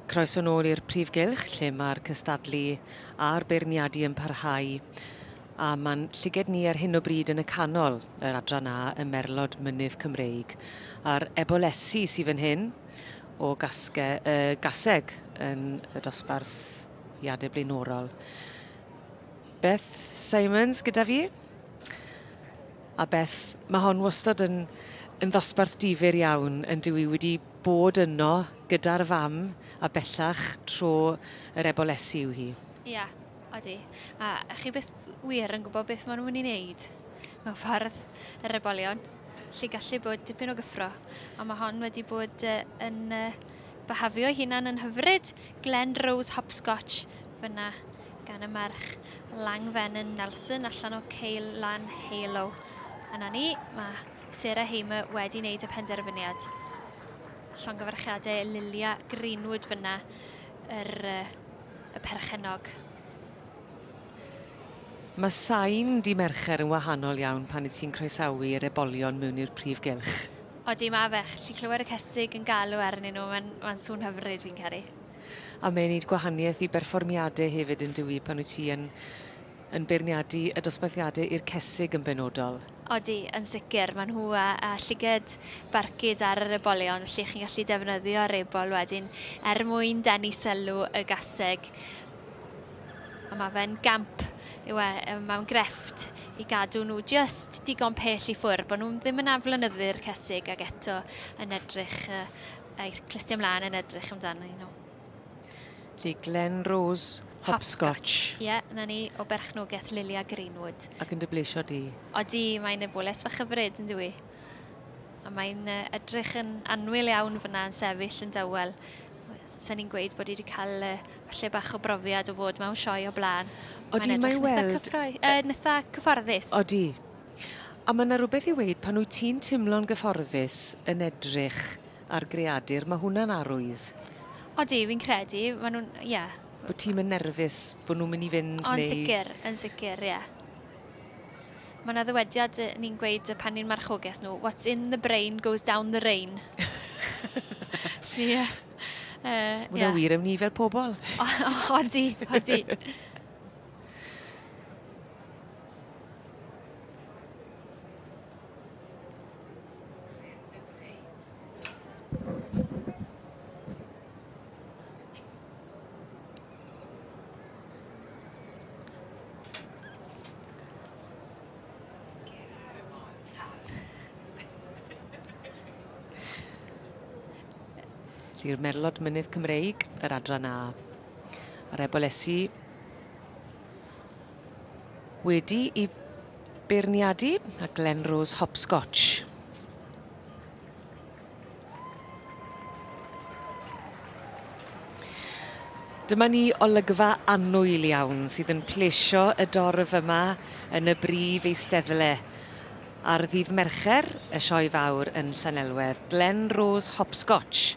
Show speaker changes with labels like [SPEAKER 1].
[SPEAKER 1] Croeso nôl i'r prif gylch lle mae'r cystadlu a'r beirniadu yn parhau a mae'n llyged ni ar hyn o bryd yn y canol yr adran A y merlod mynydd Cymreig a'r ebolesi sydd fan hyn o gasge, uh, gaseg yn y dosbarth iadau blaenorol. Beth Simons gyda fi. A Beth, mae hon wastad yn yn ddosbarth difyr iawn yn dyw i wedi bod yno gyda'r fam a bellach tro yr ebolesi yw hi. Ia, odi.
[SPEAKER 2] A chi byth wir yn gwybod beth maen nhw'n mynd i wneud mewn ffordd yr ebolion. Lle gallu bod dipyn o gyffro. Ond mae hon wedi bod uh, yn uh, byhafio hunan yn hyfryd. Glen Rose Hopscotch fyna gan y merch Langfenyn Nelson allan o Ceil Lan Halo. A na ni, mae Sarah Hamer wedi wneud y penderfyniad. Llongyfarchiadau Lilia Greenwood fyna, yr, y perchenog.
[SPEAKER 1] Mae sain di Mercher yn wahanol iawn pan y ti'n croesawu yr ebolion mewn i'r prif gylch. Odi, mae fe.
[SPEAKER 2] Lli clywed y cesig yn galw arnyn nhw, mae'n ma sŵn hyfryd fi'n caru. A mae'n neud
[SPEAKER 1] gwahanieth i berfformiade hefyd yndyw 'i pan wyt ti yn yn beirniadu y dosbarthiade i'r cesig yn benodol? Odi, yn
[SPEAKER 2] sicr. Mae nhw â â llyged barcud ar yr ebolion felly chi'n gallu defnyddio'r ebol wedyn er mwyn denu sylw y gaseg. A mae fe'n gamp yw e, yy mae'n grefft i gadw nhw jyst digon pell i ffwr' bod nhw'n ddim yn aflonyddu'r cesig ac eto yn edrych yy I clistio ymlaen yn edrych amdano nhw. Lle
[SPEAKER 1] Glen Rose Hopscotch. Ie, yeah, na ni,
[SPEAKER 2] o berchnogaeth Lilia Greenwood. Ac yn dybleisio di?
[SPEAKER 1] O di, mae'n y
[SPEAKER 2] bwles fach hyfryd yn dwi. A mae'n edrych yn anwyl iawn fyna yn sefyll yn dawel. Sa'n ni'n gweud bod i wedi cael uh, lle bach o brofiad o fod mewn sioe o blaen. O di, mae
[SPEAKER 1] weld... Cyffroi, uh, nytha
[SPEAKER 2] cyfforddus. O di,
[SPEAKER 1] A ma' 'na rwbeth i weud pan wyt ti'n timlo'n gyfforddus yn edrych ar greadur ma' hwnna'n arwydd. Odi fi'n
[SPEAKER 2] credu ma' nw'n ie. Bo' ti'm yn nerfus
[SPEAKER 1] bo' nw myn' i fynd neu... O yn sicir yn sicir
[SPEAKER 2] ie. Ma' 'na ddywediad yy ni'n gweud yy pan ni'n marchogeth nhw what's in the brain goes down the rain. Felly yy yy ie. Ma' wnna
[SPEAKER 1] wir am ni fel pobol. O- odi
[SPEAKER 2] odi.
[SPEAKER 1] Felly'r merlod mynydd Cymreig, yr adran A. A'r ebolesi Wedi i beirniadu a Glenrose Hopscotch. Dyma ni olygfa annwyl iawn sydd yn plesio y dorf yma yn y brif eisteddle ar ddydd Mercher, y Sioe Fawr yn Llanelwedd, Glenrose Hopscotch.